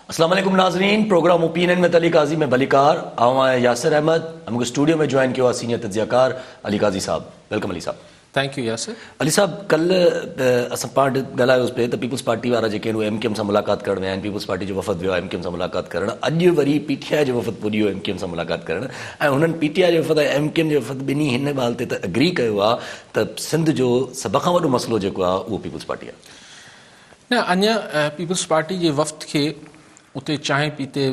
اسلام عليڪم ناظرين programme opinion with Ali Qazi ۾ ڀليڪار آئون آهيان ياسر احمد ۽ مون کي اسٽوڊيو ۾ جوائن ڪيو آهي سينيئر تجزيه ڪار علي قاضي صاحب ويلڪم علي صاحب. Thank you Yasir. علي صاحب ڪل اسان پاڻ ڳالهايو هوس پي ته پيپلز پارٽي وارا جيڪي آهن اهي ايم ڪيو ايم سان ملاقات ڪرڻ ويا آهن پيپلز پارٽي جو وفد ويو آهي ايم ڪيو ايم سان ملاقات ڪرڻ اڄ وري پي ٽي آء جو وفد پڄيو ايم ڪيو ايم سان ملاقات ڪرڻ ۽ هنن پي ٽي آء جي وفد ۽ ايم ڪيو ايم جي وفد ٻنهي هن ڳالهه تي ته اگري ڪيو آهي ته سنڌ جو سڀ کان وڏو مسئلو جيڪو آهي اهو پيپلز پارٽي آهي. نه اڃا پيپلز پارٽي جي وفد کي اتي چانهه پيتي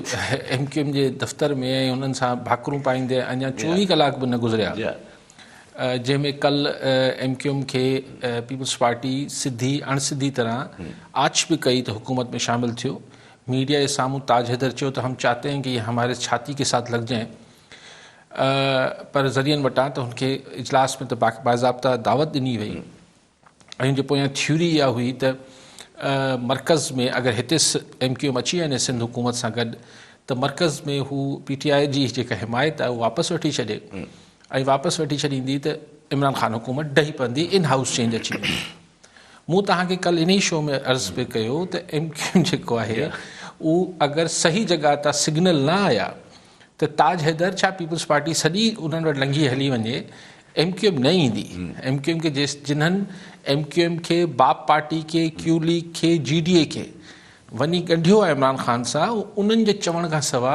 ايم ڪيو ايم جي دفتر ۾ ۽ انهن سان ڀاڪرون پائيندي اڃا چوويهه ڪلاڪ به نه گذريا جنهن ۾ ڪل ايم ڪيو ايم کي پيپلز پارٽي سڌي اڻ سڌي طرح آڇ به ڪئي ته حڪومت ۾ شامل ٿيو ميڊيا جي سامهون تاج حيدر چيو ته هم چاهتي هين ڪي هي هماري ڇاتي ڪي ساٿ لڳ جائين پر ذريعن وٽان ته هن کي اجلاس ۾ ته باضابطه دعوت ڏني وئي ان جي پويان ٿيوري اها هئي ته مرڪز ۾ اگر هتي ايم ڪيو ايم اچي وڃي سنڌ حڪومت سان گڏ ته مرڪز ۾ هو پي ٽي آء جي جيڪا حمايت آهي اها واپس وٺي ڇڏي ۽ واپس وٺي ڇڏيندي ته عمران خان حڪومت ڊهي پوندي ان هائوس چينج اچي ويندي مون توهان کي ڪل انهي شو ۾ عرض پي ڪيو ته ايم ڪيو ايم جيڪو آهي اهو اگر صحيح جڳهه تان سگنل نه آيا ته تاج حيدر ڇا پيپلز پارٽي سڄي انهن وٽ لنگهي هلي وڃي ايم ڪيو ايم نه ايندي ايم ڪيو ايم کي جيس جنهن ايم ڪيو ايم کي باپ پارٽي کي ڪيو ليگ کي جي ڊي اي کي وڃي ڳنڍيو آهي عمران خان سان انهن جي چوڻ کان سوا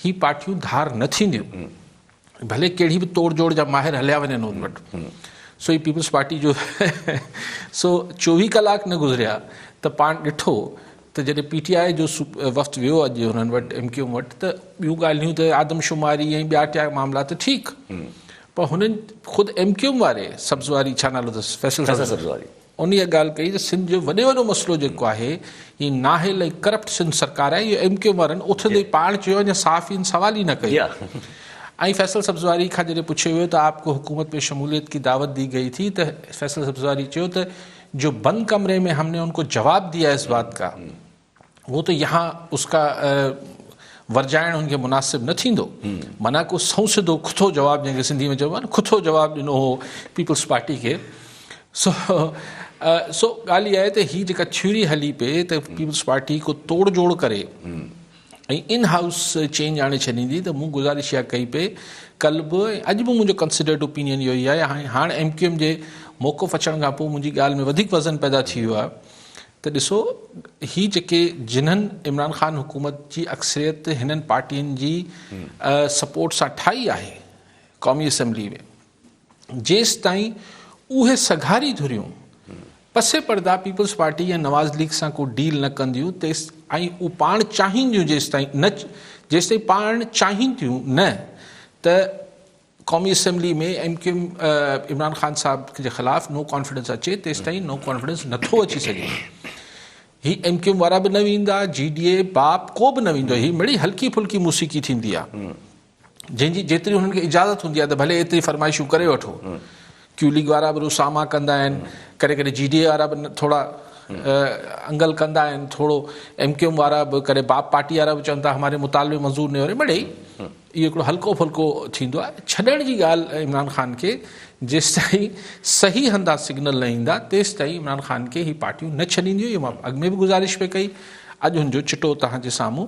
هي پارٽيون ڌار نه ٿينديون ڀلي ڪهڙي به توڙ جوڙ جا ماهر هليا وڃن انهن وٽ سو هي پيپلز پارٽي جو سو چوويهه ڪلاڪ نه گذريا ته پاڻ ڏٺو ته جڏهن پي ٽي آء جو وفد ويو اڄ انهن وٽ ايم ڪيو ايم وٽ ته ٻيون ڳالهيون ته آدمشماري ۽ ٻيا ٽيا معاملا ته ٺيڪ پر هنن خود ايم ڪيو ايم واري سبز واري ڇا نالو اٿس فيصل سبز واري ان اها ڳالهه ڪئي ته سنڌ جو وڏي وڏو مسئلو جيڪو آهي هي نااهل ۽ ڪرپٽ سنڌ سرڪار آهي اهو ايم ڪيو ايم وارن اٿندي پاڻ چيو اڃا صحافين سوال ئي نه ڪيو ۽ فيصل سبز واري کان جڏهن پڇيو ويو ته آپ ڪو حڪومت ۾ شموليت ڪي دعوت دي گئي ٿي ته فيصل سبز واري چيو ته جو بند ڪمري ۾ ھم ني ان ڪو جواب ديا اس بات ڪا وو تو يھان اس ڪا ورجائڻ ھن کي مناسب نه ٿيندو معنيٰ ڪو سنئون سڌو کٿو جواب جنھن کي سنڌي ۾ چئبو آھي نه کٿو جواب ڏنو ھو پيپلز پارٽي کي سو سو ڳالھه اھا آھي ته ھي جيڪا ٿيوري ھلي پئي ته پيپلز پارٽي ڪو توڙ جوڙ ڪري ۽ ان هائوس چينج آڻي ڇڏيندي ته مون گذارش اها ڪئي پئي ڪل به ۽ اڄ به منهنجو ڪنسڊرڊ اوپينين اهو ئي آهي ۽ هاڻ ايم ڪيو ايم جي موقف اچڻ کان پوء منهنجي ڳالهه ۾ وڌيڪ وزن پيدا ٿي ويو آهي ته ڏسو هي جيڪي جنھن عمران خان حڪومت جي اڪثريت هنن پارٽين جي سپورٽ سان ٺاهي آهي قومي اسيمبلي ۾. جيستائين اهي سگهاري ڌريون پسي پرده پيپلز پارٽي يا نواز ليگ سان ڪو ڊيل نه ڪنديون تيس ۽ اهو پاڻ چاهين ٿيون جيستائين نه جيستائين پاڻ چاهين ٿيون نه ته قومي assembly ۾ M Q M Imran Khan Sahib جي خلاف نو ڪانفيڊنس اچي تيستائين نو ڪانفيڊنس نٿو اچي سگهي هي ايم ڪيو ايم وارا به نه ويندا جي ڊي اي باپ ڪو به نه ويندو هي مڙي هلڪي ڦلڪي موسيقي ٿيندي آهي جنهن جي جيتري انهن کي اجازت هوندي آهي ته ڀلي ايتري فرمائشون ڪري وٺو. ڪيو ليگ وارا به رساما ڪندا آهن، ڪڏهن ڪڏهن جي ڊي اي وارا به ٿورا انگل ڪندا آهن، ٿورو ايم ڪيو ايم وارا به ڪڏهن باب پارٽي وارا به چون ٿا هماري مطالبي منظور نهي هو رهي مڙئي اهو هڪڙو هلڪو ڦلڪو ٿيندو آهي ڇڏڻ جي ڳالهه عمران خان کي جيستائين صحيح هندا سگنل نه ايندا تيستائين عمران خان کي هي پارٽيون نه ڇڏينديون اهو مان اڳ ۾ به گذارش پئي ڪئي اڄ هن جو چٽو توهان جي سامهون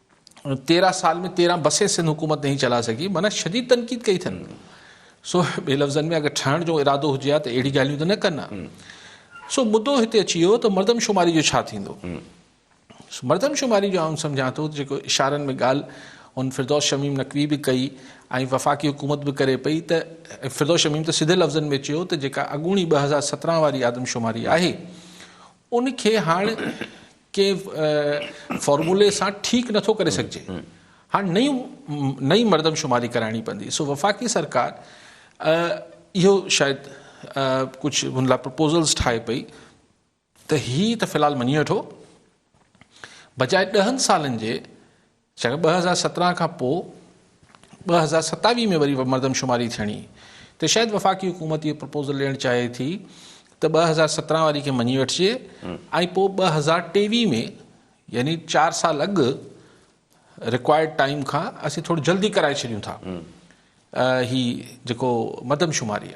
تيرهن سال ۾ تيرهن بسين سنڌ حڪومت نهين چلائي سگهي معنيٰ شديد تنقيد ڪئي اٿن سو ٻي لفظن ۾ اگر ٺهڻ جو ارادو هجي ها ته اهڙي ڳالهيون ته نه ڪن ها سو مدو هتي اچي ويو ته مردم شماري جو ڇا ٿيندو مردم شماري جو آئون سمجهان ٿو جيڪو اشارن ۾ ڳالهه هن فردوس شميم نقوي به ڪئي ۽ وفاقي حڪومت به ڪري پئي ته فردوس شميم ته سڌي لفظن ۾ چيو ته جيڪا اڳوڻي ٻه هزار سترهن واري آدم شماري آهي ان کي هاڻ ڪنهن فارمولي سان ٺيڪ نٿو ڪري سگهجي. هاڻ نئين مردمشماري ڪرائڻي پوندي. سو وفاقي سرڪار اهو شايد ڪجهه هن لاء پروپوزلز ٺاهي پئي ته هي ته في الحال مڃي وٺو بجاء ڏهن سالن جي جيڪڏهن ٻه هزار سترهن کان پوء ٻه هزار ستاويهه ۾ وري مردمشماري ٿيڻي ته شايد وفاقي حڪومت اهو پروپوزل ڏيڻ چاهي ٿي ته ٻه هزار سترهن واري کي مڃي وٺجي ۽ پوء ٻه هزار ٽيويهه ۾ يعني چار سال اڳ رڪوائرڊ ٽائيم کان اسين ٿورو جلدي ڪرائي ڇڏيون ٿا هي جيڪو مردمشماري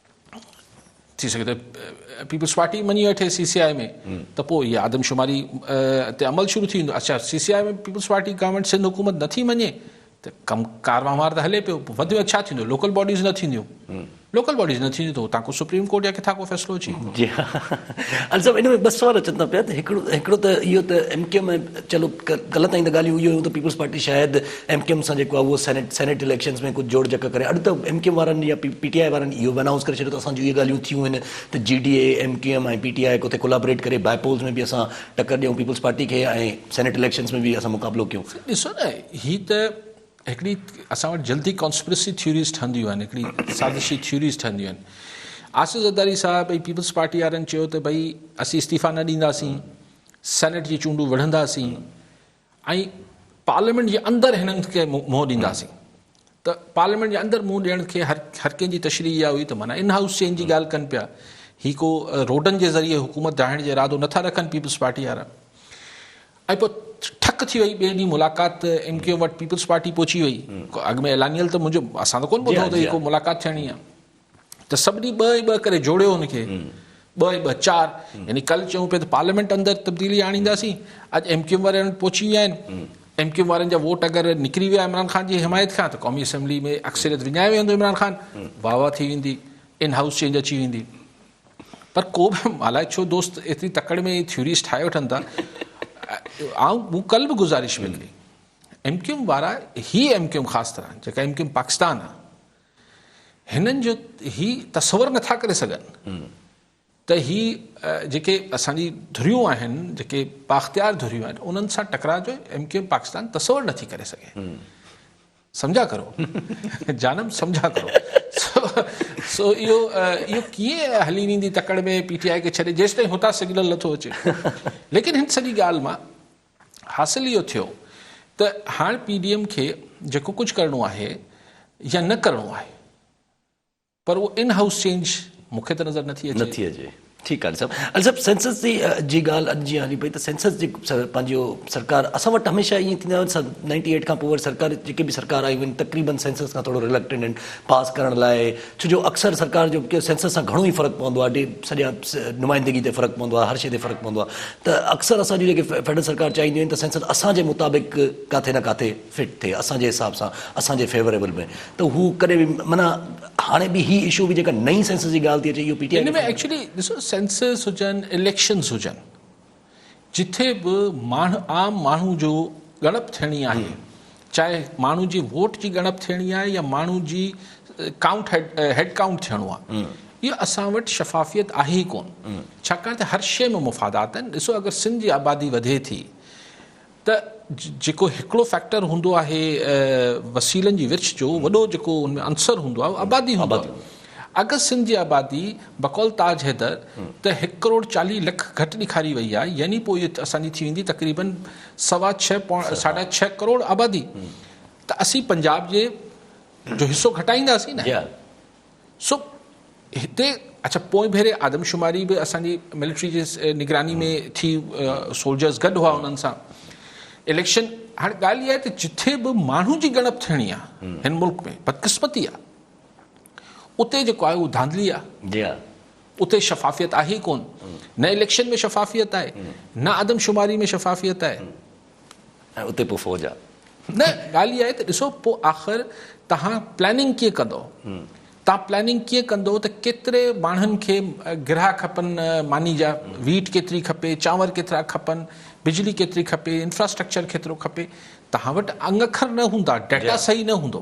ٿي سگهي ته پيپلز پارٽي مڃي وٺي سي سي آء ۾ ته پوء اها آدمشماري تي عمل شروع ٿي ويندو اڇا C C I ۾ Peoples Party government Sindh حڪومت نٿي مڃي ته ڪم ڪار وهنوار ته هلي پيو وڌ ۾ ڇا ٿيندو لوڪل باڊيز نه ٿينديون لوڪل باڊيز نه ٿينديون ته هتان ڪو سپريم ڪورٽ يا ڪٿان ڪو فيصلو اچي جي ها علي صاحب ان ۾ ٻه سوال اچن ٿا پيا ته هڪڙو هڪڙو ته اهو ته ايم ڪيو ۾ چلو غلط آهن ته ڳالهيون اهو ته پيپلز پارٽي شايد ايم ڪيو ايم سان جيڪو آهي اهو سينيٽ سينيٽ اليڪشنز ۾ ڪجهه جوڙ جڪ ڪري اڄ ته ايم ڪيو ايم وارن يا پي ٽي آء وارن اهو به انائونس ڪري ڇڏيو ته اسان جون اهي ڳالهيون ٿيون آهن ته G D A M Q M ۽ P T I ڪٿي ڪولابريٽ ڪري بائي پولز ۾ به اسان ٽڪر ڏيون پيپلز پارٽي کي ۽ سينيٽ اليڪشنز ۾ به اسان مقابلو ڪيون ڏسو نه هي ته هڪڙي اسان وٽ جلدي ڪانسپرسي ٿيوريز ٺهنديون آهن هڪڙي سازشي ٿيوريز ٺهنديون آهن آصف زرداري صاحب ۽ پيپلز پارٽي وارن چيو ته ڀئي اسين استعيفا نه ڏينداسين سينيٽ جي چونڊون وڙهنداسين ۽ پارليامينٽ جي اندر هنن کي منهن ڏينداسين ته پارليامينٽ جي اندر منهن ڏيڻ کي هر هر ڪنهن جي تشريح اها هئي ته معنيٰ ان هائوس چينج جي ڳالهه ڪن پيا هي ڪو روڊن جي ذريعي حڪومت ڊاهڻ جو ارادو نٿا رکن پيپلز پارٽي وارا ۽ پوء ٺڪ ٿي وئي ٻئي ڏينهن ملاقات ايم ڪيو وٽ پيپلز پارٽي پهچي وئي اڳ ۾ اعلانيل ته منهنجو اسان ته ڪون ٻڌو ته هي ڪو ملاقات ٿيڻي آهي ته سڀني ٻه ۽ ٻه ڪري جوڙيو ان کي ٻه ۽ ٻه چار يعني ڪل چئون پيا ته پارليامينٽ اندر تبديلي آڻينداسين اڄ ايم ڪيو ايم وارا انهن پهچي ويا آهن ايم ڪيو ايم وارن جا ووٽ اگر نڪري ويا عمران خان جي حمايت کان ته قومي اسيمبلي ۾ اڪثريت وڃائي ويندو عمران خان واهه واهه ٿي ويندي ان هائوس چينج اچي ويندي پر ڪو به الاء ڇو دوست ايتري تڪڙ ۾ ٿيوريز ٺاهي وٺن ٿا آئون مون ڪل به گذارش به ڪئي ايم ڪيو ايم وارا هي ايم ڪيو ايم خاص طرح جيڪا ايم ڪيو ايم پاڪستان آهي هنن جو هي تصور نه ٿا ڪري سگهن ته هي جيڪي اسان جي ڌريون آهن، جيڪي بااختيار ڌريون آهن، انهن سان ٽڪراء جو ايم ڪيو ايم پاڪستان تصور نه ٿي ڪري سگهي. سمجهيا ڪرو جانم سمجهيا ڪرو سو اهو اهو ڪيئن هلي ويندي تڪڙ ۾ پي ٽي آء کي ڇڏي جيستائين هتان سگنل نه ٿو اچي ليڪن هن سڄي ڳالهه مان حاصل اهو ٿيو ته هاڻ پي ڊي ايم کي جيڪو ڪجهه ڪرڻو آهي يا نه ڪرڻو آهي پر اهو ان هائوس چينج مون کي ته نظر نه ٿي اچي. ٺيڪ آهي علي صاحب. علي صاحب سينسس جي جي ڳالهه اڄ جيئن هلي پئي ته سينسس جي پنهنجو سرڪار اسان وٽ هميشه ائين ٿيندو آهي نائنٽي ايٽ کان پوء وري سرڪار جيڪي به سرڪار آيون آهن تقريبن سينسس کان ٿورو رلڪٽنڊ آهن پاس ڪرڻ لاء ڇو جو اڪثر سرڪار جو سينسس سان گهڻو ئي فرق پوندو آهي، سڄا نمائندگي تي فرق پوندو آهي، هر شيء تي فرق پوندو آهي ته اڪثر اسان جون جيڪي فيڊرل سرڪار چاهينديون آهن ته سينسس اسان جي مطابق ڪاٿي نه ڪاٿي فٽ ٿئي، اسان جي حساب سان، اسان جي فيوريبل ۾ ته هو ڪڏهن به معنيٰ هاڻي به هي اشو به جيڪا نئين سينسس جي ڳالهه ٿي اچي اهو پي ٽي آء کي فائدو ڏيندو. ان ۾ ايڪچولي ڏسو سينسس هجن اليڪشنز هجن جتي به ماڻهه عام ماڻهو جو ڳڻپ ٿيڻي آهي چاهي ماڻهو جي ووٽ جي ڳڻپ ٿيڻي آهي يا ماڻهو جي ڪائونٽ هيڊ ڪائونٽ ٿيڻو آهي اهو اسان وٽ شفافيت آهي ئي ڪون ڇاڪاڻ ته هر شيء ۾ مفادات آهن ڏسو اگر سنڌ جي آبادي وڌي ٿي ته جيڪو هڪڙو فيڪٽر هوندو آهي وسيلن جي ورڇ جو وڏو جيڪو ان ۾ عنصر هوندو آهي اهو آبادي هوندو آهي اگر سنڌ جي آبادي بقول تاج حيدر ته هڪ ڪروڙ چاليهه لک گهٽ ڏيکاري وئي آهي يعني پوء اهو اسان جي ٿي ويندي تقريباً سوا ڇهه پوڻ ساڍا ڇهه ڪروڙ آبادي ته اسين پنجاب جي جو حصو گهٽائينداسين نه سو هتي اڇا پوئين ڀيري آدمشماري به اسان جي ملٽري جي نگراني ۾ ٿي سولجرز گڏ هئا انهن سان اليڪشن هاڻي ڳالهه اها آهي ته جٿي به ماڻهو جي ڳڻپ ٿيڻي آهي هن ملڪ ۾ بدقسمتي آهي اتي جيڪو آهي اهو ڌانڌلي آهي جي آهي اتي شفافيت آهي ڪون نه اليڪشن ۾ شفافيت آهي نه آدمشماري ۾ شفافيت آهي ۽ اتي پوء فوج آ. نه ڳالهه اها آهي ته ڏسو پوء آخر توهان پلاننگ ڪيئن ڪندو؟ توهان پلاننگ ڪيئن ڪندو ته ڪيتري ماڻهن کي گرها کپن ماني جا، ويٽ ڪيتري کپي، چانور ڪيترا کپن، بجلي ڪيتري کپي، انفراسٽرڪچر ڪيترو کپي. توهان وٽ انگ اکر نه هوندا، ڊيٽا صحيح نه هوندو.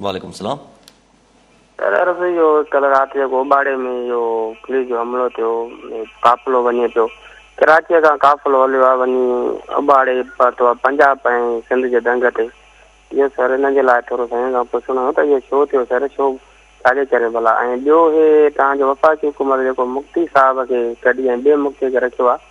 وعليڪم السلام. سر عرض هئي جو ڪل رات جيڪو اوٻاڙي ۾ اهو پوليس جو حملو ٿيو قافلو وڃي پيو ڪراچيء کان قافلو هليو آهي وڃي اوٻاڙي پهتو آهي پنجاب ۽ سنڌ جي ڏنگ تي اهو سر ان جي لاء ٿورو سائين کان پڇڻو هو ته اهو ڇو ٿيو سر ڇو ڇاجي ڪري ڀلا ۽ ٻيو هي توهان جو وفاقي حڪومت جيڪو مفتي صاحب کي ڪڍي ۽ ٻئي مفتي کي رکيو آهي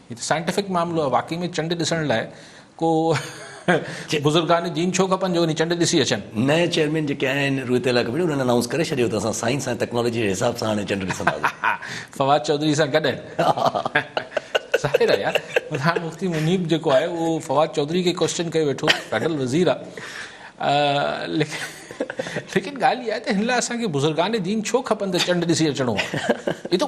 هي ته سائنٽيفڪ معاملو آهي واقعي ۾ چنڊ ڏسڻ لاء ڪو بزرگان دين ڇو کپن جو وڃي چنڊ ڏسي اچن. نئين چيئرمين جيڪي آهن روئتيلا ڪميٽي انهن انائونس ڪري ڇڏيو ته اسان سائنس ۽ ٽيڪنالاجي جي حساب سان هاڻي چنڊ ڏسنداسين. فواد چوڌري سان گڏ آهن. ظاهر آهي يار ملتان مفتي منيب جيڪو آهي اهو فواد چوڌري کي ڪوئسچن ڪيو ويٺو فيڊرل وزير آهي ليڪن ڳالهه اها آهي ته هن لاء اسان کي بزرگان دين ڇو کپن ته چنڊ ڏسي اچڻو آهي هي ته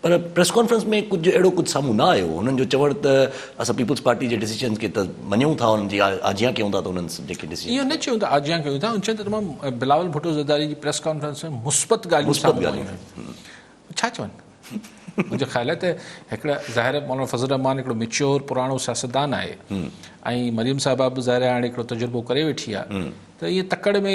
پر پريس ڪانفرنس ۾ ڪجهه اهڙو ڪجهه سامهون نه آيو، هنن جو چوڻ ته اسان پيپلز پارٽي جي ڊيسيزنز کي ته مڃون ٿا انهن جي آجيان ڪيون ٿا ته انهن جيڪي ڊيسيزنز اهو نه چيون ته آجيان ڪيون ٿا، هن چيو ته تمام بلاول ڀٽو زرداري جي پريس ڪانفرنس ۾ مثبت ڳالهيون سامهون آيون آهن، هو ڇا چون؟ منهنجي خيال آهي ته هڪڙا ظاهر مولانا فضل الرحمان هڪڙو ميچيور پراڻو سياستدان آهي ۽ مريم صاحبه به ظاهر هاڻي هڪڙو تجربو ڪري ويٺي آهي ته ائين تڪڙ ۾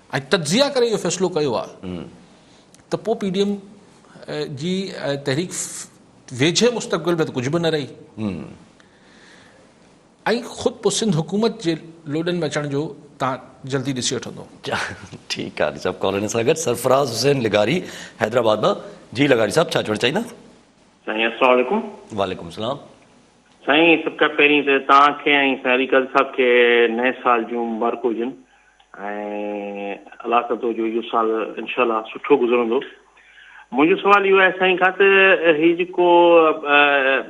۽ تجزيه ڪري اهو فيصلو ڪيو آهي ته پوء پي ڊي ايم جي تحريڪ ويجهي مستقبل ۾ ته ڪجهه به نه رهي ۽ خود پوء سنڌ حڪومت جي لوڏن ۾ اچڻ جو تان جلدي ڏسي وٺندو. ٺيڪ آهي صاحب ڪالر سان گڏ سرفراز حسين لغاري حيدرآباد مان جي لغاري صاحب ڇا چوڻ چاهيندا. سائين السلام عليڪم. وعليڪم السلام. سائين سڀ کان پهرين ته توهان کي ۽ سائين علي قادري صاحب کي نئين سال جون مبارڪون هجن ۽ الله ڪندو جو اهو سال انشاء الله سٺو گذرندو. منهنجو سوال اهو آهي سائين کان ته هي جيڪو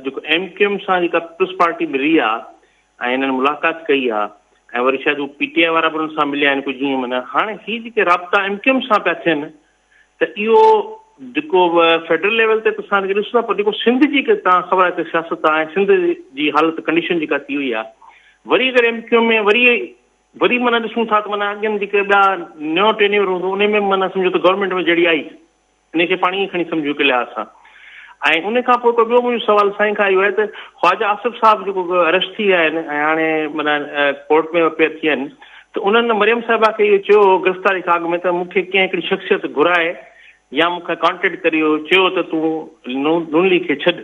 جيڪو ايم ڪيو ايم سان جيڪا پيپلز پارٽي ملي آ ۽ هنن ملاقات ڪئي آ ۽ وري شايد هو پي ٽي آء وارا به هنن سان مليا آهن ڪجهه جيئن معنيٰ هاڻي هي جيڪي رابطا ايم ڪيو ايم سان پيا ٿين ته اهو جيڪو فيڊرل ليول تي ته اسان کي ڏسو پر جيڪو سنڌ جي تان خبر آهي ته سياست آهي سنڌ جي حالت ڪنڊيشن جيڪا ٿي وئي آ وري اگر ايم ڪيو ايم وري وري معنيٰ ڏسون ٿا ته معنيٰ اڳين جيڪي ٻيا نيو ٽينيور هوندو ان ۾ به معنيٰ سمجهو ته گورنمينٽ ۾ جهڙي آئي ان کي پاڻ ائين کڻي سمجهون هڪ لحاظ سان ۽ ان کان پوء هڪ ٻيو منهنجو سوال سائين کان اهو آهي ته خواجه آصف صاحب جيڪو اريسٽ ٿي ويا آهن ۽ هاڻي معنيٰ ڪورٽ ۾ اپيئر ٿي ويا آهن ته انهن مريم صاحبه کي اهو چيو هو گرفتاري کان اڳ ۾ ته مون کي ڪنهن هڪڙي شخصيت گهرائي يا مون کي ڪانٽيڪٽ ڪري اهو چيو ته تون نون ليگ کي ڇڏ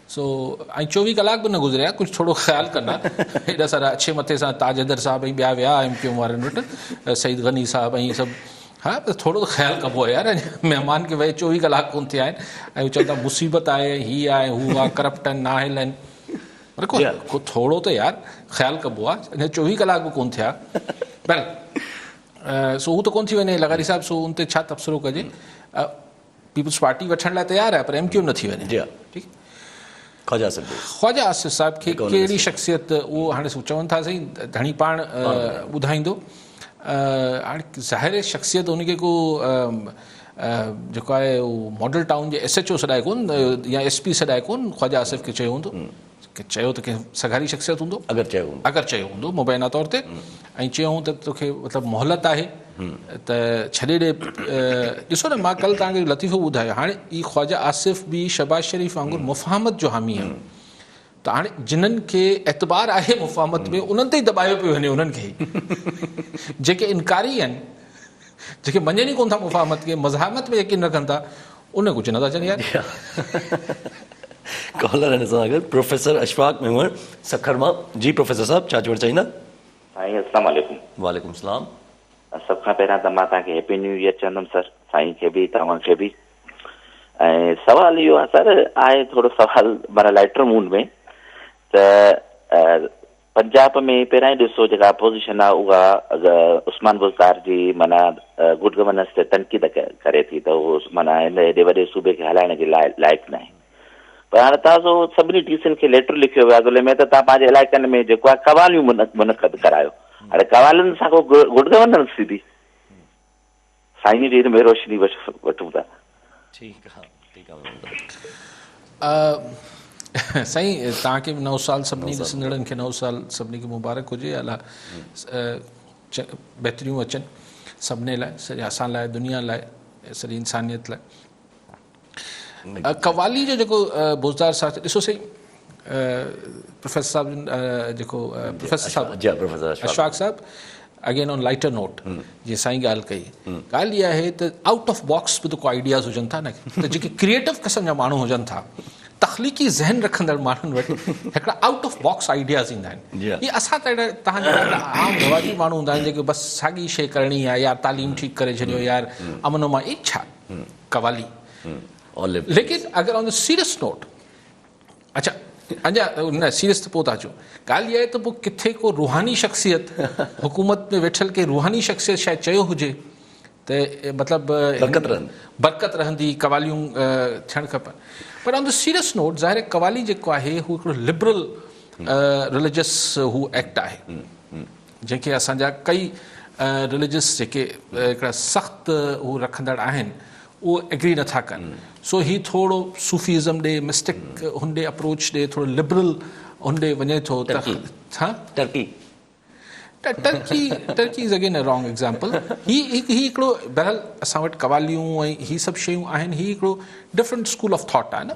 سو ۽ چوويهه ڪلاڪ به نه گذريا ڪجهه ٿورو خيال ڪندا ايڏا سارا اڇي مٿي سان تاج حيدر صاحب ۽ ٻيا ويا ايم ڪيو وارن وٽ سعيد غني صاحب ۽ سڀ ها بس ٿورو خيال ڪبو آهي يار مهمان کي ويهي چوويهه ڪلاڪ ڪون ٿيا آهن ۽ چون ٿا مصيبت آهي هي آهي هو آهي ڪرپٽ آهن ناهل آهن پر ٿورو ته يار خيال ڪبو آهي اڃا چوويهه ڪلاڪ به ڪون ٿيا بهرحال سو هو ته ڪون ٿي وڃي لغاري صاحب سو ان تي ڇا تبصرو ڪجي پيپلز پارٽي وٺڻ لاء تيار آهي پر ايم ڪيو ايم نه ٿي وڃي جي ٺيڪ خواجه آصف ڀي خواجه آصف صاحب کي ڪهڙي شخصيت اهو هاڻي چون ٿا سائين ڌڻي پاڻ ٻڌائيندو هاڻي ظاهر شخصيت ان کي ڪو جيڪو آهي ماڊل ٽائون جي ايس ايچ او سڏائي ڪون يا ايس پي سڏائي ڪون خواجه آصف کي چيو هوندو ڪنهن چيو ته ڪنهن سگهاري شخصيت هوندو؟ اگر چيو هوندو. اگر چيو هوندو مبينا طور تي ۽ چيائون ته توکي مطلب مهلت آهي ته ڇڏي ڏي ڏسو نه مان ڪل توهان کي لطيفو ٻڌايو هاڻي هي خواجه آصف به شهباز شريف وانگر مفاهمت جو حامي آهي ته هاڻي جنن کي اعتبار آهي مفاهمت ۾ انهن تي ئي دٻايو پيو وڃي انهن کي جيڪي انڪاري آهن. جيڪي مڃن ئي ڪون ٿا مفاهمت کي، مزاحمت ۾ يقين رکن ٿا، انهن ڪجهه نه ٿا چون يار. ڪالر ان سان گڏ پروفيسر اشفاق ميمڻ سکر مان جي پروفيسر صاحب ڇا چوڻ چاهيندا. سائين السلام عليڪم. وعليڪم السلام. سڀ کان پهريان ته مان توهان کي هيپي نيو ايئر چوندم سر سائين کي به توهان کي به ۽ سوال اهو آهي سر آهي ٿورو سوال معنيٰ لائٽر موڊ ۾ ته پنجاب ۾ پهريائين ڏسو جيڪا اپوزيشن آ اها عثمان بزدار جي معنيٰ گڊ گورننس تي تنقيد ڪري ٿي ته اهو معنيٰ هن ايڏي وڏي صوبي کي هلائڻ جي لاء لائق ناهي پر هاڻي تازو سڀني ڊي سين کي ليٽر لکيو ويو آ ضلعي ۾ ته تان پنهنجي علائقن ۾ جيڪو آ قواليون منعقد ڪرايو هاڻي قوالين سان ڪو گڊ گورننس ٿيندي. سائين جي هن ۾ روشني وٺون ٿا. ٺيڪ آ ٺيڪ آ محمد دادو. سائين توهان کي به نئون سال سڀني ڏسندڙن کي نئون سال سڀني کي مبارڪ هجي الا بهتريون اچن سڀني لاء سڄي اسان لاء دنيا لاء سڄي انسانيت لاء. قوالي جو جيڪو بوزدار ساٿ ڏسو سائين پروفيسر صاحب جن جيڪو پروفيسر صاحب جي پروفيسر اشفاق صاحب اگين آن لائٽر نوٽ جي سائين ڳالهه ڪئي ڳالهه اها آهي ته آؤٽ آف باڪس به ته ڪو آئيڊياز هجن ٿا نه ته جيڪي ڪرييٽو قسم جا ماڻهو هجن ٿا تخليقي ذهن رکندڙ ماڻهن وٽ هڪڙا آؤٽ آف باڪس آئيڊياز ايندا آهن هي اسان ته اهڙا تهان جا عام رواجي ماڻهو هوندا آهن جيڪي بس ساڳي شيء ڪرڻي آهي يار تعليم ٺيڪ ڪري ڇڏيو يار امن امان اي ڇا قوالي ليڪن اگر آن دي سيريس نوٽ اچا اڃا نه سيريس ته پوء ٿا اچو ڳالهه اها آهي ته پوء ڪٿي ڪو روحاني شخصيت حڪومت ۾ ويٺل ڪي روحاني شخصيت شايد چيو هجي ته مطلب برڪت رهن برڪت رهندي قواليون ٿيڻ کپن پر آن دي سيريس نوٽ ظاهر قوالي جيڪو آهي هو هڪڙو لبرل رليجس هو ايڪٽ آهي جنهن کي اسان جا ڪئي رليجس جيڪي هڪڙا سخت هو رکندڙ آهن اهو ايگري نه ٿا ڪن سو هي ٿورڙو صوفي ازم ڏي مسٽڪ هن ڏي اپروچ ڏي ٿورڙو لبرل هن ڏي وڃي ٿو ته ٽرڪي ها Turkey Turkey Turkey is again a wrong example هي هي هڪڙو بهرحال اسان وٽ قواليون ۽ هي سڀ شيون آهن هي هڪڙو ڊفرنٽ اسڪول آف ٿاٽ آهي نه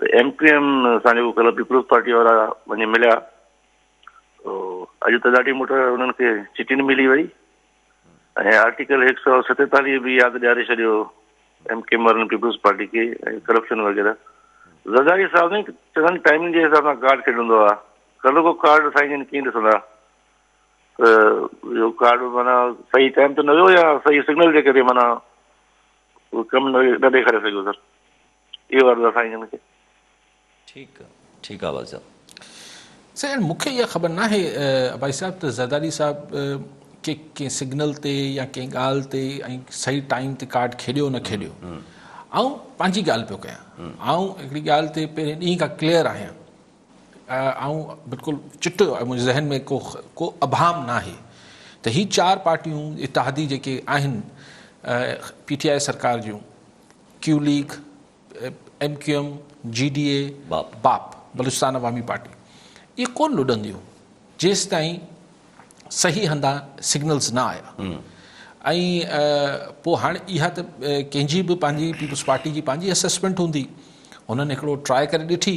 ته ايم ڪيو ايم سان جيڪو ڪلهه پيپلز پارٽي وارا وڃي مليا تو اڄ تڏاٽي مٺ انهن کي چٽين ملي وئي ۽ آرٽيڪل هڪ سؤ ستيتاليهه به ياد ڏياري ڇڏيو ايم ڪيو ايم وارن پيپلز پارٽي کي ۽ ڪرپشن وغيره زرداري صاحب سائين چڱن ٽائمنگ جي حساب سان ڪارڊ کيڏندو آ ڪلهه کو ڪارڊ سائين جن ڪيئن ڏسندا ته اهو ڪارڊ معنيٰ صحيح ٽائم ته نه ويو يا صحيح سگنل جي ڪري معنيٰ ڪم نه ڏيکاري سگهيو سر اهو عرض آ سائين جن کي. ٺيڪ ٺيڪ آ والد صاحب. سائين مون کي اها خبر ناهي عباسي صاحب ته زرداري صاحب ڪي ڪنهن سگنل تي يا ڪنهن ڳالهه تي ۽ صحيح ٽائيم تي ڪارڊ کيڏيو نه کيڏيو آئون پنهنجي ڳالهه پيو ڪيان آئون هڪڙي ڳالهه تي پهرين ڏينهن کان ڪليئر آهيان آئون بلڪل چٽو آهي منهنجي ذهن ۾ ڪو ڪو ابهام ناهي ته هي چار پارٽيون اتحادي جيڪي آهن پي ٽي آء سرڪار جون Q League, M Q M, G D A, BAP, Balochistan Awami party, اهي ڪونه لڏنديون جيستائين صحيح هنڌان سگنلز نه آيا ۽ پوء هاڻي اها ته ڪنهن جي به پنهنجي پيپلز پارٽي جي پنهنجي اسيسمينٽ هوندي، هنن هڪڙو ٽراء ڪري ڏٺي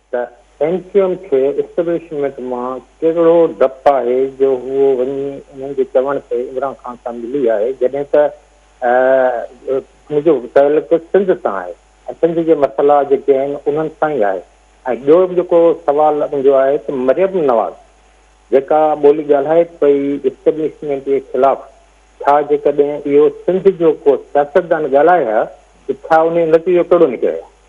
ته ايم ڪيو ايم کي اسٽيبلشمينٽ مان ڪهڙو ڊپ آهي جو هو وڃي انهن جي چوڻ تي عمران خان سان ملي آهي جڏهن ته ان جو تعلق سنڌ سان آهي ۽ سنڌ جي مسئلا جيڪي آهن انهن سان ئي آهي ۽ ٻيو به جيڪو سوال ان جو آهي ته مريم نواز جيڪا ٻولي ڳالهائي پئي اسٽيبلشمينٽ جي خلاف ڇا جيڪڏهن اهو سنڌ جو ڪو سياستدان ڳالهائي ها ته ڇا ان جو نتيجو ڪهڙو نڪري ها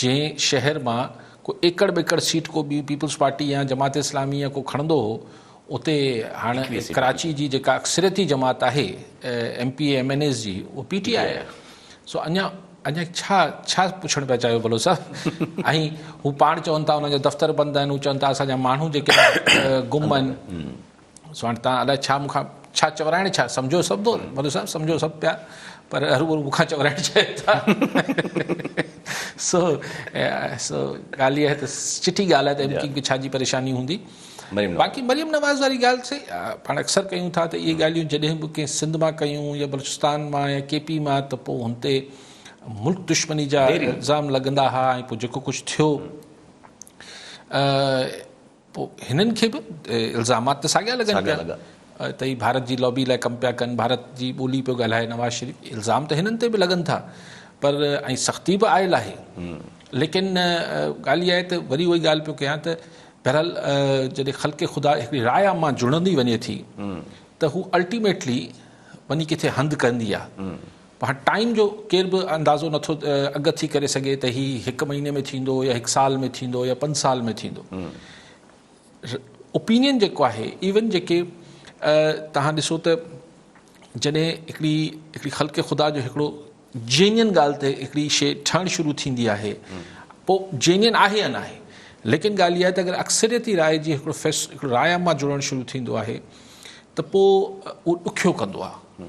جنهن شهر مان ڪو ايڪڙ ٻيڪڙ سيٽ ڪو ٻي پيپلز پارٽي يا جماعت اسلامي يا ڪو کڻندو هو اتي هاڻ ڪراچي جي جيڪا اڪثريتي جماعت آهي M P A M N As جي اهو پي ٽي آء آهي سو اڃا اڃا ڇا ڇا پڇڻ پيا چاهيو بلو صاحب ۽ هو پاڻ چون ٿا انهن جا دفتر بند آهن هو چون ٿا اسان جا ماڻهو جيڪي گم آهن سواڻ تان الاء ڇا مون کان ڇا چورائڻ ڇا سمجهو سڀ ٿو ملو صاحب سمجهو سڀ پيا پر هر ڀرو مون کان چورائڻ چاهي ٿا سو سو ڳالهه اها ته چٺي ڳالهه آهي ته ايم ڪيم کي ڇا جي پريشاني هوندي باقي مريم نواز واري ڳالهه سي پاڻ اڪثر ڪيون ٿا ته اهي ڳالهيون جڏهن به ڪنهن سنڌ مان ڪيون يا بلوچستان مان يا ڪي پي مان ته پوء هن تي ملڪ دشمني جا الزام لڳندا هئا ۽ پوء جيڪو ڪجهه ٿيو پوء هنن کي به الزامات ته ساڳيا لڳن پيا ته هي ڀارت جي لابي لاء ڪم پيا ڪن، ڀارت جي ٻولي پيو ڳالهائي نواز شريف، الزام ته هنن تي به لڳن ٿا پر ۽ سختي به آيل آهي ليڪن ڳالهه اها آهي ته وري اهو ئي ڳالهه پيو ڪيان ته بهرحال جڏهن خلق خدا هڪڙي راء عامه جڙندي وڃي ٿي ته هو الٽيميٽلي وڃي ڪٿي هنڌ ڪندي آهي پر ٽائيم جو ڪير به اندازو نٿو اڳ ٿي ڪري سگهي ته هي هڪ مهيني ۾ ٿيندو يا هڪ سال ۾ ٿيندو يا پنج سال ۾ ٿيندو اوپينين جيڪو آهي ايون جيڪي توهان ڏسو ته جڏهن هڪڙي هڪڙي خلق خدا جو هڪڙو جينين ڳالهه تي هڪڙي شي ٺهڻ شروع ٿيندي آهي پوء جينين آهي يا ناهي ليڪن ڳالهه اها آهي ته اگر اڪثريتي راء جي هڪڙو فيس هڪڙو راء مان جڙڻ شروع ٿيندو آهي ته پوء اهو ڏکيو ڪندو آهي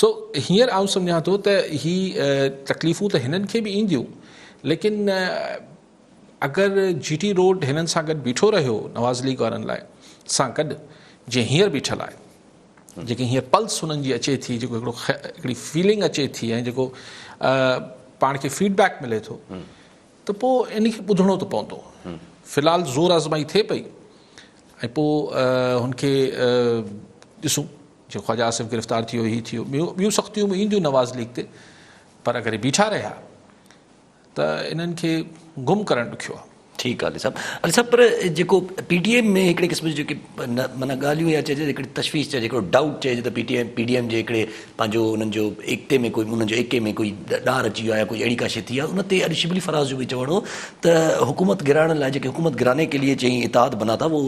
سو هينئر آئون سمجهان ٿو ته هي تڪليفون ته هنن کي به اينديون ليڪن اگر جي ٽي روڊ هنن سان گڏ بيٺو رهيو نواز ليگ وارن لاء سان گڏ جي هينئر بيٺل آهي جيڪي هينئر پلس هنن جي اچي ٿي جيڪو هڪڙو هڪڙي فيلنگ اچي ٿي ۽ جيڪو پاڻ کي فيڊ بيڪ ملي ٿو ته پوء ان کي ٻڌڻو ته پوندو في الحال زور آزمائي ٿئي پئي ۽ پوء هن کي ڏسون جيئن خواجه آصف گرفتار ٿيو هي ٿيو ٻيون ٻيون سختيون به اينديون نواز ليگ تي پر اگر بيٺا رهيا ته انهن کي گم ڪرڻ ڏکيو آهي. ٺيڪ آهي علي صاحب علي صاحب پر جيڪو پي ٽي ايم ۾ هڪڙي قسم جون جيڪي معنيٰ ڳالهيون يا چئجي هڪڙي تشويش چئجي هڪڙو ڊائوٽ چئجي ته P T M P D M جي هڪڙي پنهنجو انهن جو ايڪتي ۾ ڪوئي انهن جو ايڪي ۾ ڪوئي ڏار اچي ويو آهي يا ڪوئي اهڙي ڪا شي ٿي آهي ان تي اڄ شبلي فراز جو به چوڻ هو ته حڪومت گراڻ لاء جيڪي حڪومت گرانے ڪي ليئي چئي اتحاد بنا ٿا وو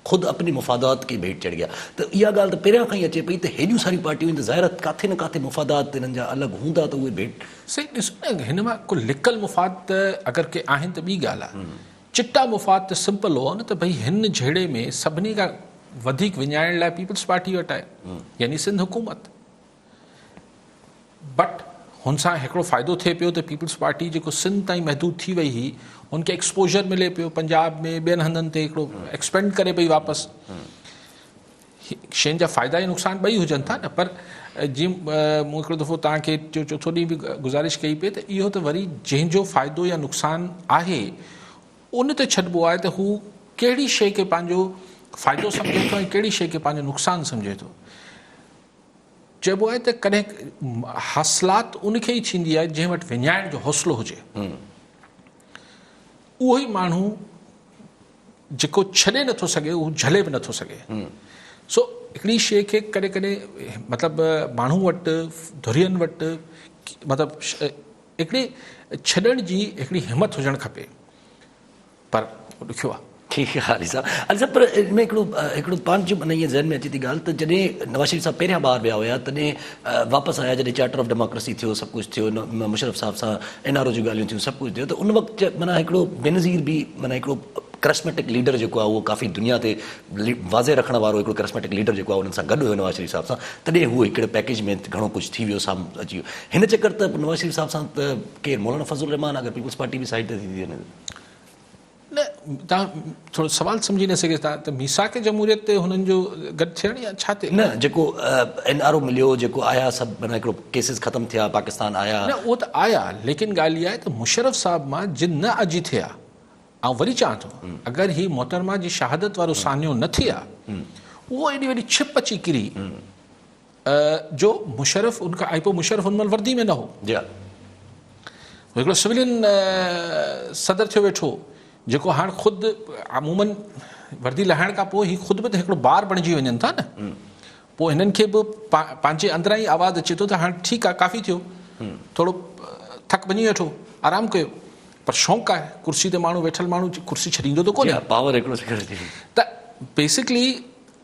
خود اپني مفادات ڪي ڀيٽ چڙهگيا ته اها ڳالهه ته پهريان کان ئي اچي پئي ته هيڏيون ساريون پارٽيون آهن ته ظاهر آهي ڪاٿي نه ڪاٿي مفادات ته انهن جا الڳ هوندا ته اهي ڀيٽ سائين ڏسو نه هن مان ڪو لڪل مفاد ته اگر ڪي آهن ته ٻي ڳالهه آهي چٽا مفاد ته سمپل هئا نه ته ڀئي هن جهيڙي ۾ سڀني کان وڌيڪ وڃائڻ لاء پيپلز پارٽي وٽ آهي يعني سنڌ حڪومت. بٽ هن سان هڪڙو فائدو ٿئي پيو ته پيپلز پارٽي جيڪو سنڌ تائين محدود ٿي وئي هئي ان کي ايڪسپوزر ملي پيو پنجاب ۾ ٻين هنڌن تي هڪڙو ايڪسپينڊ ڪري پئي واپس شين جا فائدا ۽ نقصان ٻئي هجن ٿا نه پر جي مون هڪڙو دفعو تان کي جو چوٿو ڏينهن به گزارش ڪئي پئي ته اهو ته وري جنهن جو فائدو يا نقصان آهي ان تي ڇڏبو آهي ته هو ڪهڙي شيء کي پنهنجو فائدو سمجهي ٿو ۽ ڪهڙي شيء کي پنهنجو نقصان سمجهي ٿو چئبو آهي ته ڪڏهن حاصلات ان کي ئي ڇيندي آهي جنهن وٽ وڃائڻ جو حوصلو هجي اهو ئي ماڻهو جيڪو ڇڏي نٿو سگهي اهو جهلي به نٿو سگهي سو هڪڙي شيء کي ڪڏهن ڪڏهن مطلب ماڻهو وٽ ڌرين وٽ مطلب هڪڙي ڇڏڻ جي هڪڙي همت هجڻ کپي پر اهو ڏکيو آهي. ٺيڪ آ علي صاحب. علي صاحب پر ان ۾ هڪڙو هڪڙو پنهنجو معنيٰ ائين ذهن ۾ اچي ٿي ڳالهه ته جڏهن نواز شريف صاحب پهريان ٻاهر ويا هيا تڏهن واپس آيا جڏهن چارٽر آف ڊيماڪريسي ٿيو سڀ ڪجهه ٿيو مشرف صاحب سان اين آر او جون ڳالهيون ٿيون سڀ ڪجهه ٿيو ته ان وقت معنيٰ هڪڙو بينظير به معنيٰ هڪڙو ڪرسميٽڪ ليڊر جيڪو آهي اهو ڪافي دنيا تي واضح رکڻ وارو هڪڙو ڪرسميٽڪ ليڊر جيڪو آهي انهن سان گڏ هيو نواز شريف صاحب سان تڏهن هو هڪڙي پيڪيج ۾ گهڻو ڪجهه ٿي ويو سامهون اچي ويو هن چڪر ته نواز شريف صاحب سان ته ڪير مولانا فضل الرحمان اگر پيپلز پارٽي به سائيڊ تي ٿي ٿي وڃي نه تان ٿورو سوال سمجهي نه سگهي ٿا ته ميثاق جمهوريت تي هنن جو گڏ ٿيڻ يا ڇا تي نه جيڪو اين آر او مليو جيڪو آيا سڀ معنيٰ هڪڙو ڪيسز ختم ٿيا پاڪستان آيا نه اهو ته آيا ليڪن ڳالهه اها آهي ته مشرف صاحب مان جن نه اڄ ٿي آ آئون وري چوان ٿو اگر هي محترمه جي شهادت وارو سانحو نه ٿي آ اهو ايڏي وڏي ڇپ اچي ڪري جو مشرف ان کان ايپو مشرف ان مهل وردي ۾ نه هو جي ها هڪڙو سولين صدر ٿيو ويٺو جيڪو هاڻ خود عموما وردي لهائڻ کان پوء هي خود به ته هڪڙو بار بڻجي وڃن ٿا نه پوء هنن کي به پنهنجي اندران ئي آواز اچي ٿو ته هاڻ ٺيڪ آهي ڪافي ٿيو ٿورو ٿڪ ڀڃي ويٺو آرام ڪيو پر شونق آهي ڪرسي تي ماڻهو ويٺل ماڻهو ڪرسي ڇڏيندو ته ڪونهي پاور هڪڙو ته بيسڪلي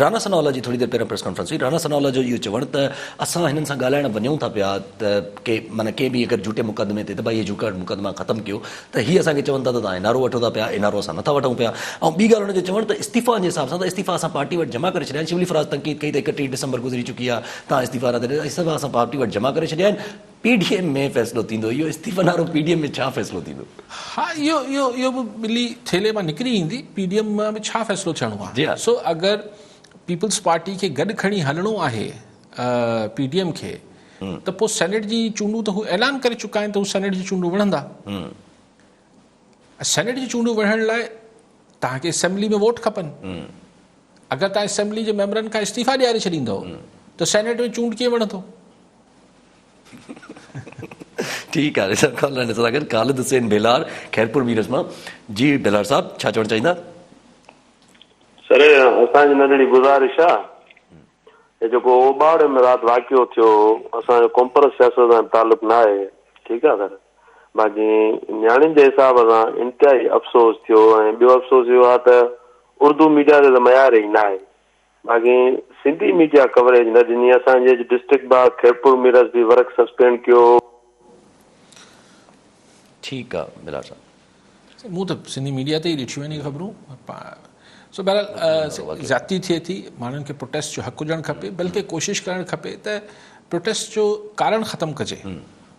رانا ثناء الله جي ٿوري دير پهريان پريس ڪانفرنس هئي، رانا ثناء الله جو اهو چوڻ ته اسان هنن سان ڳالهائڻ وڃون ٿا پيا ته ڪي معنيٰ ڪنهن به اگر جهوٽي مقدمي تي ته ڀائي اهي جهوٽا مقدما ختم ڪيو ته هي اسان کي چون ٿا ته توهان اين آر او وٺو ٿا پيا اين آر او اسان نٿا وٺون پيا ۽ ٻي ڳالهه هن جو چوڻ ته استعيفائن جي حساب سان ته استعيفا اسان پارٽي وٽ جمع ڪري ڇڏيا آهن شبلي فراز تنقيد ڪئي ته اڪٽيهه ڊسمبر گذري چڪي آهي توهان استعيفا نه ڏيو اسان پارٽي وٽ جمع ڪري ڇڏيا آهن پي ڊي ايم ۾ فيصلو ٿيندو اهو استعيفن وارو پي ڊي ايم ۾ ڇا فيصلو ٿيندو. ها اهو اهو اهو به ٻلي ٿيلهي مان نڪري ايندي پي ڊي ايم مان به ڇا فيصلو ٿيڻو آهي سو اگر پيپلز پارٽي کي گڏ کڻي هلڻو آهي پي ڊي ايم کي ته پوء سينيٽ جي چونڊون ته هو اعلان ڪري چڪا آهن ته هو سينيٽ جي چونڊون وڙهندا سينيٽ جي چونڊون وڙهڻ لاء تهان کي اسيمبلي ۾ ووٽ کپن اگر تهان اسيمبلي جي ميمبرن کان استعيفا ڏياري ڇڏيندو ته سينيٽ ۾ چونڊ ڪيئن وڙهندو ٺيڪ آهي سر خان لاء نثر آگر خالد حسين ڀيلار خيرپور ميرس مان جي ڀيلار صاحب ڇا چوڻ چاهيندا سر اسان جي ننڍڙي گزارش آهي جيڪو اوٻاڙ ۾ رات واقعو ٿيو اسان جو ڪمپرس سياست سان تعلق نه آهي ٺيڪ آهي سر باقي نياڻين جي حساب سان انتهائي افسوس ٿيو ۽ ٻيو افسوس اهو آهي ته اردو ميڊيا تي ته معيار ئي نه آهي باقي سنڌي ميڊيا ڪوريج نه ڏني اسان جي اڄ ڊسٽرڪٽ باء خيرپور ميرس به ورڪ سسپينڊ ڪيو. ٺيڪ آ بلال صاحب. سائين مون ته سنڌي ميڊيا تي ئي ڏٺيون آهن اهي خبرون سو بهرحال زيادتي ٿئي ٿي ماڻهن کي پروٽيسٽ جو حق هجڻ کپي بلڪه ڪوشش ڪرڻ کپي ته پروٽيسٽ جو ڪارڻ ختم ڪجي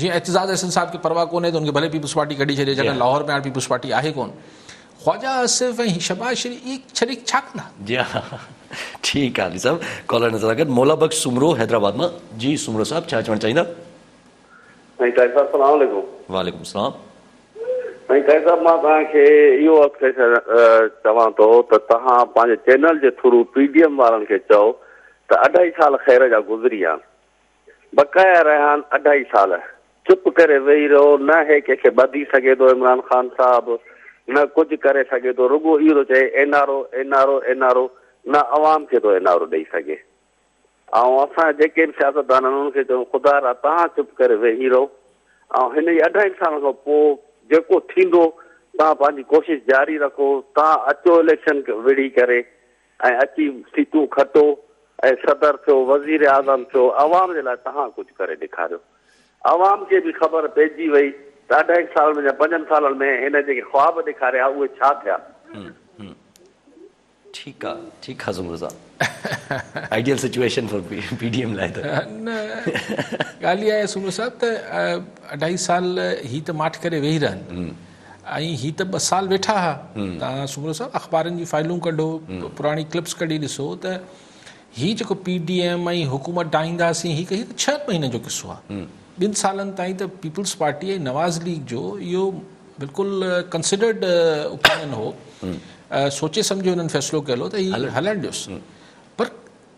جيئن اعتزاز احسن صاحب کي پرواهه ڪونهي ته ان کي ڀلي پيپلز پارٽي ڪڍي ڇڏي جڏهن لاهور ۾ هاڻي پيپلز پارٽي آهي ڪون خواجا آصف ۽ شهباز شريف اي ڇڏي ڇا ڪندا جي ها ٺيڪ آهي علي صاحب ڪالر نظر آگت مولا بخش سومرو حيدرآباد مان جي سومرو صاحب ڇا چوڻ چاهيندا سائين طاهر صاحب سلام عليڪم وعليڪم السلام سائين طاهر صاحب مان توهان کي اهو عرض ڪري چوان ٿو ته توهان پنهنجي چينل جي ٿرو پي ڊي ايم وارن کي چئو ته اڍائي سال خير جا گذري ويا بقايا ريحان اڍائي سال چپ ڪري ويهي رهيو، نه هي ڪنهن کي ٻڌي سگهي ٿو عمران خان صاحب نه ڪجهه ڪري سگهي ٿو رڳو اهو ٿو چئي N R O N R O N R O نه عوام کي ٿو اين آر او ڏئي سگهي آئون اسان جيڪي به سياستدان آهن انهن کي چئون خدا را توهان چپ ڪري ويهي رهو آئون هن جي اڍائين سالن کان پوء جيڪو ٿيندو توهان پنهنجي ڪوشش جاري رکو توهان اچو اليڪشن وڙهي ڪري ۽ اچي ٿي تون کٽو ۽ صدر ٿيو وزير اعظم ٿيو عوام جي لاء تهان ڪجهه ڪري ڏيکاريو عوام کي به خبر پئجي وئي ته اڍائي سال ۾ يا پنجن سالن ۾ هن جيڪي خواب ڏيکاريا اهي ڇا ٿيا. ٺيڪ آ ٺيڪ آ زمرو صاحب ideal situation for P D M لاء ته. نه ڳالهه اها آهي سومرو صاحب ته اڍائي سال هي ته ماٺ ڪري ويهي رهن ۽ هي ته ٻه سال ويٺا ها. توهان سومرو صاحب اخبارن جي فائلون ڪڍو، پراڻي ڪلپس ڪڍي ڏسو ته هي جيڪو پي ڊي ايم ۽ حڪومت ڊاهينداسين هي ڪهي ته ڇهن مهينن جو قصو آ. ٻن سالن تائين ته پيپلز پارٽي ۽ نواز ليگ جو اهو بلڪل ڪنسڊرڊ اوپينين هو. سوچي سمجهي انهن فيصلو ڪيل هو ته هي هلڻ ڏيوس. پر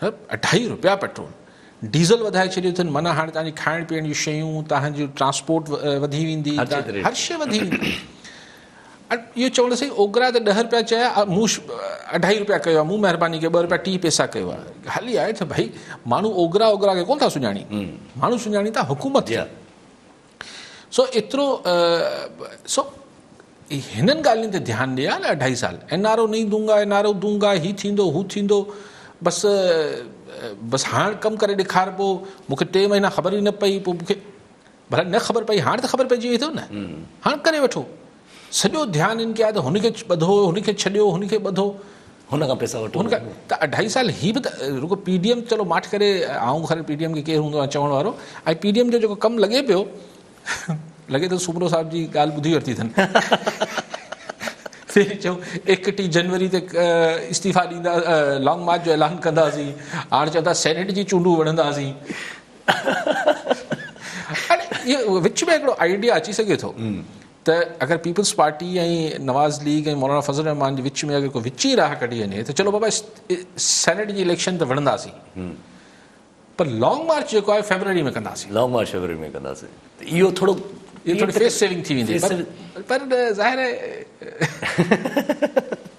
اڍائي رپيا پيٽرول ڊيزل وڌائي ڇڏيو اٿن معنيٰ هاڻي تهانجي کائڻ پيئڻ جون شيون تهانجي ٽرانسپورٽ وڌي ويندي هر شي وڌي ويندي اهو چوڻ سائين اوگرا ته ڏهه رپيا چيا مون اڍائي رپيا ڪيو مون مهرباني ڪيو ٻه رپيا ٽي پيسا ڪيو آهي هلي آئي ته ڀائي ماڻهو اوگرا اوگرا کي ڪون ٿا سڃاڻين ماڻهو سڃاڻين ٿا حڪومت سو ايترو سو هنن ڳالهين تي ڌيان ڏي ها نه اڍائي سال اين آر او نئي دونگا اين آر او دونگا هي ٿيندو هو ٿيندو بس بس هاڻ ڪم ڪري ڏيکار پو مونکي ٽي مهينا خبر ئي نه پئي پو مونکي ڀلا نه خبر پئي هاڻ ته خبر پئجي وئي اٿو نه هاڻ ڪري وٺو سڄو ڌيان ان ڪيا ته هن کي ٻڌو، هن کي ڇڏيو، هن کي ٻڌو. هن کان پئسا وٺو. هن کان ته اڍائي سال هي به ته رڳو پي ڊي ايم چلو ماٺ ڪري آئون خير پي ڊي ايم کي ڪير هوندو آهي چوڻ وارو ۽ پي ڊي ايم جو جيڪو ڪم لڳي پيو لڳي ٿو سومرو صاحب جي ڳالهه ٻڌي ورتي اٿن پهرين چيو ايڪٽيهه جنوري تي استعيفا ڏيندا لانگ مارچ جو اعلان ڪنداسين هاڻ چون ٿا سينيٽ جي چونڊون وڙهنداسين. اهي وچ ۾ هڪڙو آئيڊيا اچي سگهي ٿو ته اگر پيپلز پارٽي ۽ نواز ليگ ۽ مولانا فضل الرحمان جي وچ ۾ اگر ڪو وچي راهه ڪڍي وڃي ته چلو بابا سينيٽ جي اليڪشن ته وڙهنداسين پر لانگ مارچ جيڪو آهي فيبروري ۾ ڪنداسين لانگ مارچ فيبروري ۾ ڪنداسين اهو ٿورو اهو ٿوري فيس سيونگ ٿي ويندي پر ظاهر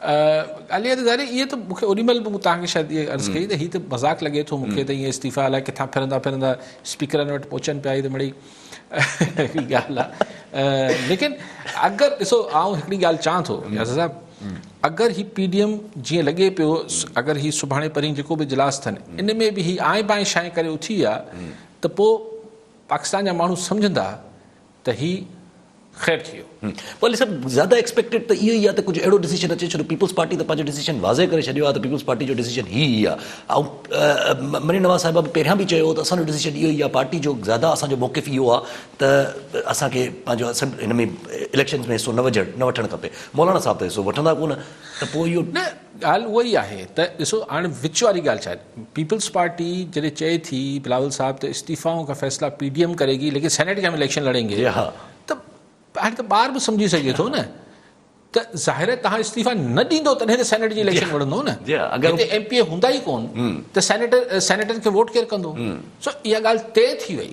علي ظاهري اهي ته مون کي اونهي مهل به مون توهان کي شايد اهي عرض ڪئي ته هي ته مذاق لڳي ٿو مون کي ته اهي استعيفا الائي ڪٿان پھرندا پھرندا اسپيڪرن وٽ پهچن پيا هي ته مڙئي هي ڳالهه آهي ليڪن اگر ڏسو آئون هڪڙي ڳالهه چوان ٿو ياسر صاحب اگر هي پي ڊي ايم جيئن لڳي پيو اگر هي سڀاڻي پرين جيڪو به اجلاس اٿن ان ۾ به هي آئين بائين شائين ڪري اٿي ويا ته پوء پاڪستان جا ماڻهو سمجهندا ته هي خير ٿي ويو. والي صاحب زياده ايڪسپيڪٽيڊ ته اهو ئي آ ته ڪجهه اهڙو ڊسيشن اچي ڇو ته پيپلز پارٽي ته پنهنجو ڊسيشن واضح ڪري ڇڏيو آ ته پيپلز پارٽي جو ڊسيشن هي ئي آ ۽ مريم نواز صاحبه به پهريان به چيو هو ته اسان جو ڊسيشن اهو ئي آ پارٽي جو زياده اسان جو موقف اهو آ ته اسان کي پنهنجو اسيمبلي هن ۾ اليڪشنز ۾ حصو نه وجهڻ نه وٺڻ کپي مولانا صاحب ته حصو وٺندا ڪونه ته پوء اهو ڳالهه اها ئي آهي ته ڏسو هاڻ وچ واري ڳالهه ڇا آهي پيپلز پارٽي جڏهن چئي ٿي بلاول صاحب ته استعيفائون ڪا فيصلا پي ڊي ايم ڪري گي ليڪن سينيٽ کي هم اليڪشن لڙين گي ته هاڻي ته ٻار به سمجهي سگهي ٿو نه ته ظاهر آهي توهان استعيفا نه ڏيندو تڏهن ته سينيٽ جي اليڪشن وڙهندو نه هتي ايم پي اي هوندا ئي ڪون ته سينيٽر سينيٽن کي ووٽ ڪير ڪندو سو اها ڳالهه طئي ٿي وئي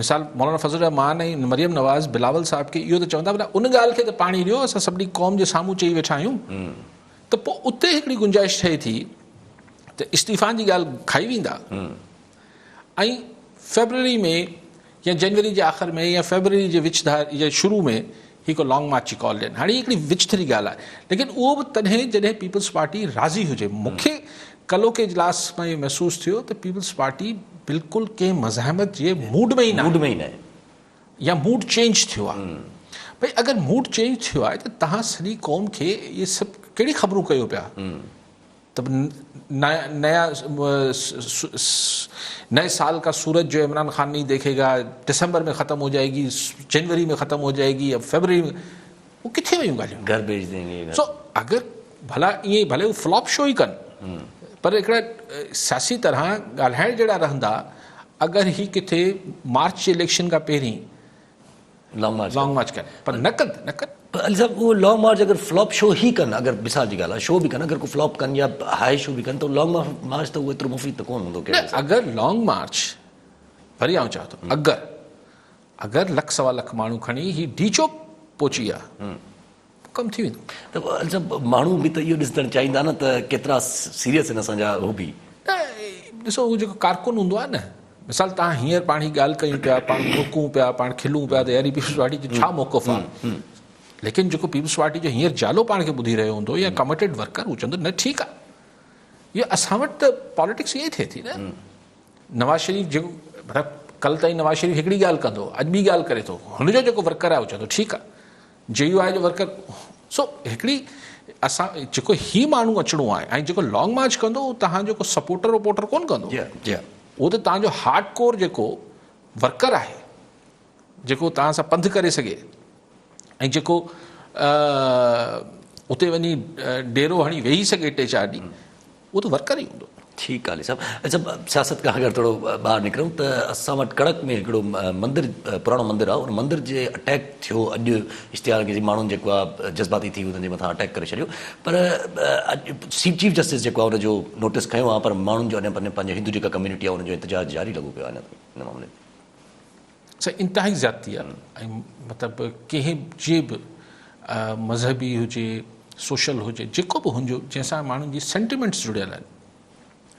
مثال مولانا فضل الرحمان ۽ مريم نواز بلاول صاحب کي اهو ته چوندا بلا ان ڳالهه کي ته پاڻي ڏيو اسان سڀني قوم جي سامهون چئي ويٺا آهيون ته پوء اتي هڪڙي گنجائش ٺهي ٿي ته استعيفان جي ڳالهه کائي ويندا ۽ فيبروري ۾ يا جنوري جي آخر ۾ يا فيبروري جي وچ ڌار يا شروع ۾ هي ڪو لانگ مارچ جي ڪال ڏين. هاڻي هي هڪڙي وچ ٿري ڳالهه آهي. ليڪن اهو به تڏهن جڏهن پيپلز پارٽي راضي هجي. مون کي ڪلهو ڪي اجلاس مان اهو محسوس ٿيو ته پيپلز پارٽي بلڪل ڪنهن مزاحمت جي موڊ ۾ ئي نه آهي. يا موڊ چينج ٿيو آهي. ڀئي اگر موڊ چينج ٿيو آهي ته توهان سڄي قوم کي اهي سڀ ڪهڙي خبرون ڪيو پيا. ته نيا نئي سال ڪا سورج جو عمران خان نهين ديکي گا، ڊسمبر ۾ ختم هو جائي گي، جنوري ۾ ختم هو جائي گي، اب فيبروري ۾ هو ڪٿي ويون ڳالهيون؟ گهر ڀيج دين گي. سو اگر ڀلا ائين ئي ڀلي هو فلاپ شو ئي ڪن پر هڪڙا سياسي طرح ڳالهائڻ جهڙا رهندا اگر هي ڪٿي مارچ جي اليڪشن کان پهرين لانگ مارچ لانگ مارچ ڪن پر نه ڪن ته نه ڪن. پر علي صاحب اهو لانگ مارچ اگر فلاپ شو هي ڪن اگر مثال جي ڳالهه آهي شو به ڪن اگر ڪو فلاپ ڪن يا هائي شو به ڪن ته لانگ مارچ ته اهو ايترو مفيد ته ڪون هوندو نه اگر لانگ مارچ وري آئون چوان ٿو اگر اگر لک سوا لک ماڻهو کڻي هي ڊي چوڪ پهچي آ ڪم ٿي ويندو. ته اڇا ماڻهو به ته اهو ڏسدڻ چاهيندا نه ته ڪيترا سيريس آهن اسان جا حبي. نه ڏسو اهو جيڪو ڪارڪن هوندو آهي نه مثال تهان هينئر پاڻ هي ڳالهه ڪيون پيا پاڻ ڀوڪون پيا پاڻ کلون پيا ته يار هي پيپلز پارٽي جو ڇا موقف آهي ليڪن جيڪو پيپلز پارٽي جو هينئر جالو پاڻ کي ٻڌي رهيو هوندو يا ڪمٽيڊ ورڪر هو چوندو نه ٺيڪ آهي اهو اسان وٽ ته پاليٽڪس ائين ٿئي ٿي نه نواز شريف جيڪو ڪل تائين نواز شريف هڪڙي ڳالهه ڪندو اڄ ٻي ڳالهه ڪري ٿو هن جو جيڪو ورڪر آهي هو چوندو ٺيڪ آهي جي يو آء جو ورڪر سو هڪڙي اسان جيڪو هي ماڻهو اچڻو آهي ۽ جيڪو لانگ مارچ ڪندو هو تهان جو ڪو سپورٽر وپورٽر ڪون ڪندو هو ته تهان جو هارڊ ڪور جيڪو ورڪر آهي جيڪو تهان سان پنڌ ڪري سگهي ۽ جيڪو اتي وڃي ڊيرو هڻي ويهي سگهي ٽي چار ڏينهن اهو ته ورڪر ئي هوندو. ٺيڪ آهي علي صاحب. اچا سياست کان اگر ٿورو ٻاهر نڪرون ته اسان وٽ ڪڙڪ ۾ هڪڙو مندر پراڻو مندر آهي ان مندر جي اٽيڪ ٿيو اڄ اشتهار جي ماڻهن جيڪو آهي جذباتي ٿي انهن جي مٿان اٽيڪ ڪري ڇڏيو پر اڄ سي چيف جسٽس جيڪو آهي ان جو نوٽس کنيو آهي پر ماڻهن جو اڃا پنهنجو هندو جيڪا ڪميونٽي آهي ان جو احتجاج جاري لڳو پيو آهي ان معاملي ۾ سائين انتهائي زيادتي آهي ۽ مطلب ڪنهن جي به مذهبي هجي سوشل هجي جيڪو به هنجو جنهن سان ماڻهن جي سينٽيمينٽس جڙيل آهن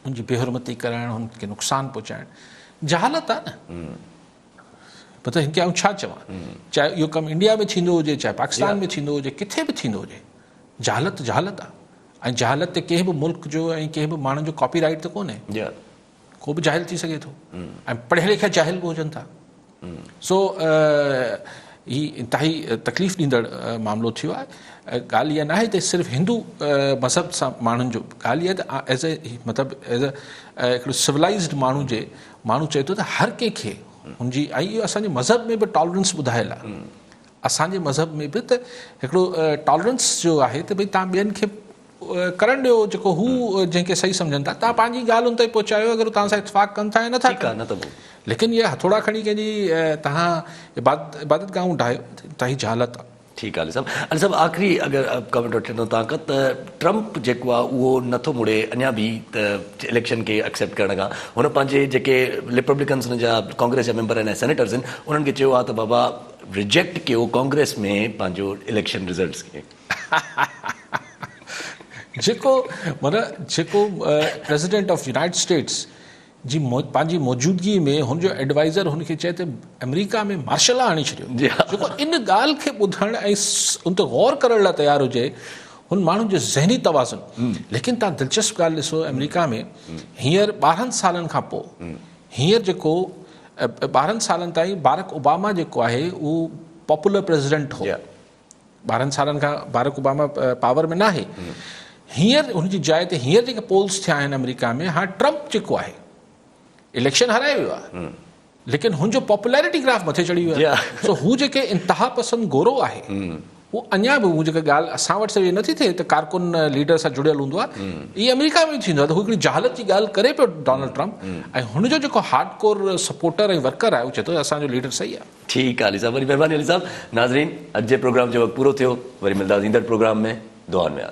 هن جي بي حرمتي ڪرائڻ هن کي نقصان پهچائڻ جهالت آهي نه مطلب هن کي آئون ڇا چوان چاهي اهو ڪم انڊيا ۾ ٿيندو هجي چاهي پاڪستان ۾ ٿيندو هجي کٿي به ٿيندو هجي جهالت جهالت آهي ۽ جهالت تي ڪنهن به ملڪ جو ۽ ڪنهن به ماڻهن جو ڪاپي رائيٽ ته ڪونهي ڪو به جاهل ٿي سگهي ٿو ۽ پڙهيل لکيل جاهل به هجن ٿا سو هي انتهائي تڪليف ڏيندڙ معاملو ٿيو آهي ڳالهه اها ناهي ته صرف هندو مذهب سان ماڻهن جو ڳالهه اها ته ايز اي مطلب ايز اي هڪڙو سولائزڊ ماڻهو جي ماڻهو چئي ٿو ته هر ڪنهن کي هن جي ۽ اهو اسان جي مذهب ۾ به ٽالرنس ٻڌايل آهي اسان جي مذهب ۾ به ته هڪڙو ٽالرنس جو آهي ته ڀئي تان ٻين کي ڪرڻ ڏيو جيڪو هو جنهن کي صحيح سمجهن ٿا توهان پنهنجي ڳالهه ان تائين پهچايو اگر توهان سان اتفاق ڪن ٿا يا نٿا ڪن نه ته پوء ليڪن اهي هٿوڙا کڻي ڪنهن جي توهان عبادت عبادت گاهون ڊاهيو ته هي جهالت آهي. ٺيڪ آهي علي صاحب علي صاحب آخري اگر ڪمينٽ وٺي وٺندو توهان کان ته ٽرمپ جيڪو آهي اهو نٿو مڙي اڃا به ته اليڪشن کي اڪسيپٽ ڪرڻ کان هن پنهنجي جيڪي ريپبليڪنس هن جا ڪانگريس جا ميمبر آهن سينيٽرز آهن انهن کي چيو آهي ته بابا ريجيڪٽ ڪيو ڪانگريس ۾ پنهنجو اليڪشن رزلٽس کي جيڪو معنيٰ جيڪو پريزيڊنٽ آف يونائيٽيڊ اسٽيٽس جي پنهنجي موجودگي ۾ هن جو ايڊوائزر هن کي چئي ته آمريڪا ۾ مارشل لا آڻي ڇڏيو جي ها. جيڪو ان ڳالهه کي ٻڌڻ ۽ ان تي غور ڪرڻ لاء تيار هجي هن ماڻهن جو ذهني توازن ليڪن تان دلچسپ ڳالهه ڏسو آمريڪا ۾ هينئر ٻارهن سالن کان پوء هينئر جيڪو ٻارهن سالن تائين بارڪ اوباما جيڪو آهي اهو پاپولر پريزيڊنٽ هو ٻارهن سالن کان بارڪ اوباما پاور ۾ ناهي هينئر هن جي جاء تي هينئر جيڪي پولز ٿيا آهن آمريڪا ۾ هاڻ ٽرمپ جيڪو آهي اليڪشن هارائي ويو آهي ليڪن هن جو پاپولرٽي گراف مٿي چڙهي ويو آهي سو هو جيڪي انتها پسند گورو آهي هو اڃا به هو جيڪا ڳالهه اسان وٽ سڄي نٿي ٿئي ته ڪارڪن ليڊر سان جڙيل هوندو آهي هي آمريڪا ۾ ٿيندو آهي ته هو هڪڙي جهالت جي ڳالهه ڪري پيو ڊونلڊ ٽرمپ ۽ هن جو جيڪو هارڊ ڪور سپورٽر ۽ ورڪر آهي هو چئي ٿو اسان جو ليڊر صحيح آهي ٺيڪ آ علي صاحب وڏي مھرباني علي صاحب ناظرين اڄ جي پروگرام جو وقت پورو ٿيو وري ملداس ايندڙ پروگرام ۾ دعائن ۾ ياد.